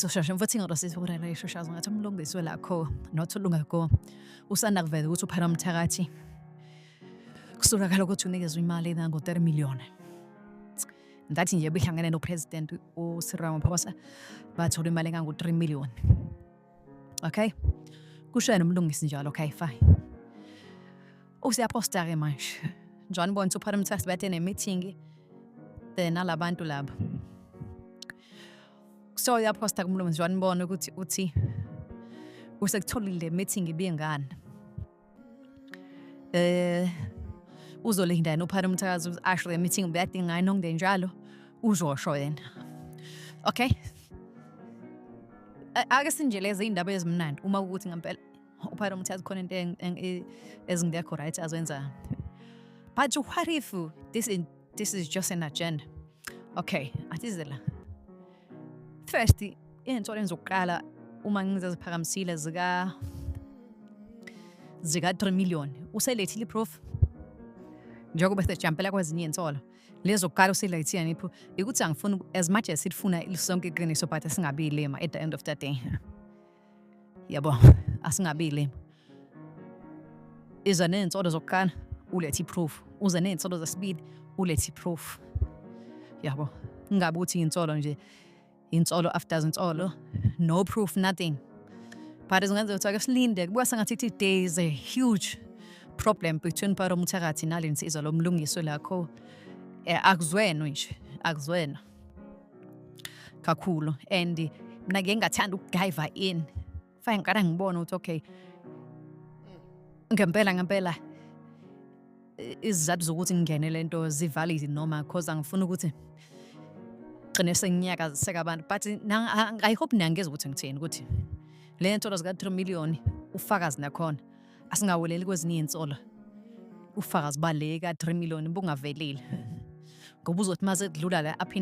soshashe mfo thingalo sisibulela ishoshazo ngathi umlungiswe lakho not ulungako usanda kuveza ukuthi uphela umthakathi kusolakala ukuthi unikezwe imali engango-30 million ngathi nje behlangene nopresident uCyril Ramaphosa bathola imali engangu-3 million okay kusho yena umlungisi njalo okay fine usiyaposta-ke manje njengoba bonisa uphara umthathi bathe ne-meeting then alabantu laba so uyaposta kumlungisi njengoba nibona ukuthi uthi usekutholile le meeting ibingani Eh uzolinda yena uphana umthakazi ukuthi asho le meeting ubuyadinga ngani nokungde njalo uzosho yena. Okay. A- Ake sinjeleze indaba ezimnandi uma ukuthi ngempela uphana umthakazi khona into eng- eng- e- ezingekho right azenza. But what if this is, this is just an agenda? Okay, atizela. First, into lenza ukuqala uma ngizeziphakamisile zika zika 3 million uselethile iproof njengoba sejampela kwezinye insolo lezo kuqala uselethile nipho ukuthi angifuni as much as sifuna sonke iqiniso but singabile at the end of the day Yabo, asingabile. Iza ney'nsolo zokuqala, ulethe i-proof. Uze ney'nsolo zesibili, ulethe i-proof. Yabo, ingabe ukuthi insolo nje, insolo after insolo, no proof, nothing. But zingenzeka ukuthi ake silinde, kubuka sengathi ithi there is a huge problem between Paro Muthakathi nale nsizwa lo mlungiswe lakho. Eh, akuzwenwe nje, akuzwenwa. kakhulu and mna ke ngathanda ukudiva in fane ngiqala ngibone ukuthi okay ngempela ngempela izizathu zokuthi ngingene le nto zivalid noma cause angifuni ukuthi gcine senginyakaziseka abantu but i hope niyangeza ukuthi ngithini ukuthi le nsolo zika-3 million ufakazi nakhona asingaweleli kwezinye iy'nsolo ufakazi bale ka-3 million bungavelile ngoba uzothi uma sekudlula la aphinde